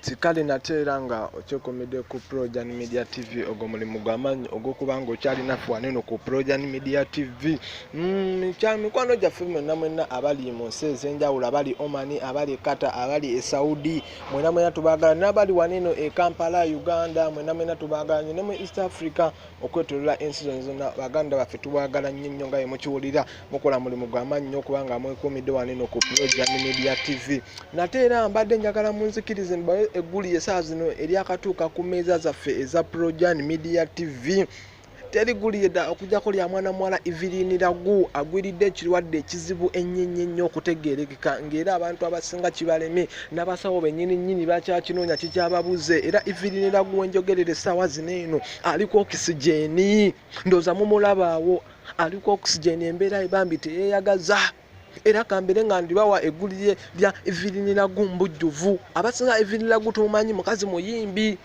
kikale nate era nga okyekomedde ku projan media tv ogwo mulimu gwamaanyi ogwokuba nga okyalina fuwaneno ku projan media tv mm, kya mikwano gyaffe mwena mwena abali mu nsi ezenjawulo abali omani abali kata abali esaudi mwena mwena tubagala nabali waneno e kampala uganda mwena mwena tubagala nyo ne mu east africa okwetolola ensi zona zona baganda baffe tubagala nnyo nnyo nga yemukiwulira mukola mulimu gwamaanyi nnyo okubanga mwekuumidde waneno ku progian media tv nate era mbadde njagala munzikirize mbawe egguli esaa zino eryakatuuka ku meeza zaffe eza progian media tv terigulirda okujako lya mwana muwala evelin ragu agwiridde ekirwadde ekizibu ennyenye nnyo okutegeerekeka ng'era abantu abasinga kibaleme n'abasawo benyini nnyini bakyakinoonya kikyababuze era evelin ragu wenjogerera essaawa zino eno aliko okisigeni ndooza mumulabaawo aliko okisigeni embeera ebambi teyeyagaza era kambere nga ndibawa egguli lya eviriniragu mbujjuvu abasinga eviriniragu tumumanyi mukazi muyimbi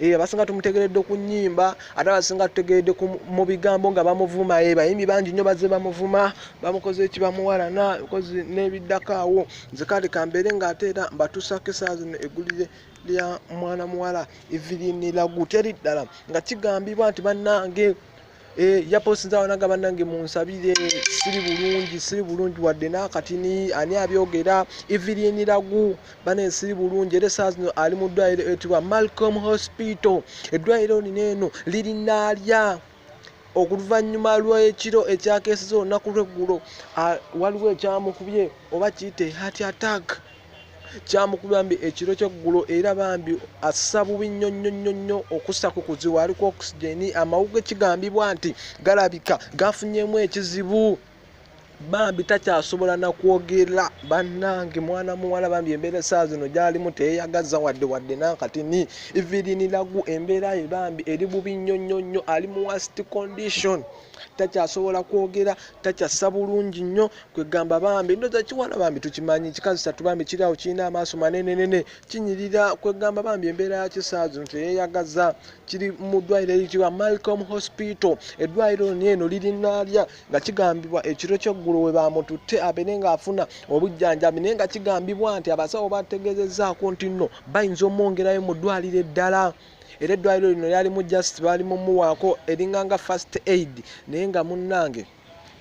eh, abasinga tumutegeredde ku nyimba ate abasinga tutegeredde mu bigambo nga bamuvuma eh, bayimbi bangi nnyo baze bamuvuma bamukoze eki bamuwalana kozi n'ebiddako awo nze kale kambere nga ate era mbatuusako esaazi eggulire lya mwana muwala evelyn lagu teri ddala nga kigambibwa nti bannange Eh, yaposinza wanaga banange munsabire siri bulungi siri bulungi wadde nakatini ani abyogera eviriniragu bane siri bulungi era esaa zino ali mu ddwaliro etibwa malcom hospital eddwaliro lino eno lirinaalya oluvannyuma lw'ekiro ekyakeeseza olunaku lw'eggulo waliwo ekyamukubye oba kiyite heart attack kyamukubya mbi ekiro kyeggulo era bambi assa bubi nnyo nnyo nnyo nnyo okussako kuzibu aliko oxygeni amawuge kigambibwa nti galabika gafunyemu ekizibu bambi takyasobola nakwogera banange mwana muwala bambi embeera esaa zino gyalimu teyeyagaza wadde wadde nakati ni iviriniragu embeera ye bambi eri bubi nnyo nnyo nnyo ali mu worst condition takyasobola kwogera takyassa bulungi nnyo kwegamba bambi ndoza kiwala bambi tukimanyi kikazi satu bambi kiri awo kirina amaaso manenenene kinyirira kwegamba bambi embeera ya kisaa zino teyeyagaza kiri mu ddwaliro eritiwa malcom hospital eddwaliro lino eno lirinalya nga kigambibwa ekiro kyeggulo we baamututte abeere ng'afuna obujjanjabi naye nga kigambibwa nti abasawo bategeezezzaako nti nno bayinza omwongerayo mu ddwaliro eddala era eddwaliro lino lyalimu just baali mumuwaako eringa nga first aid naye nga munnange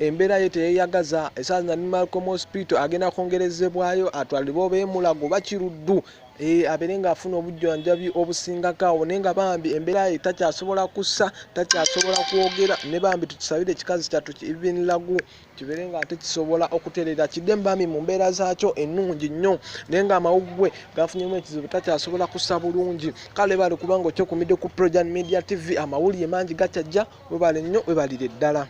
embeera ye teyeyagaza esaaza nanimalcom hospital agenda kwongerezebwayo atwalibwa oba emulago bakiruddu Eh, abeere ng'afuna obujjanjabi obusingako awo naye nga bambi embeera ye takyasobola kussa takyasobola kwogera ne bambi tukisabire ekikazi kyattu ibinlagu kibeere nga ate kisobola okutereera kidde mubambi mu mbeera zaakyo ennungi nnyo naye ng'amawuggwe gafunyemu ekizibu takyasobola kussa bulungi kale bali kubanga okyokumidde ku projan media tv amawulire mangi gakyajja webale nnyo webalire ddala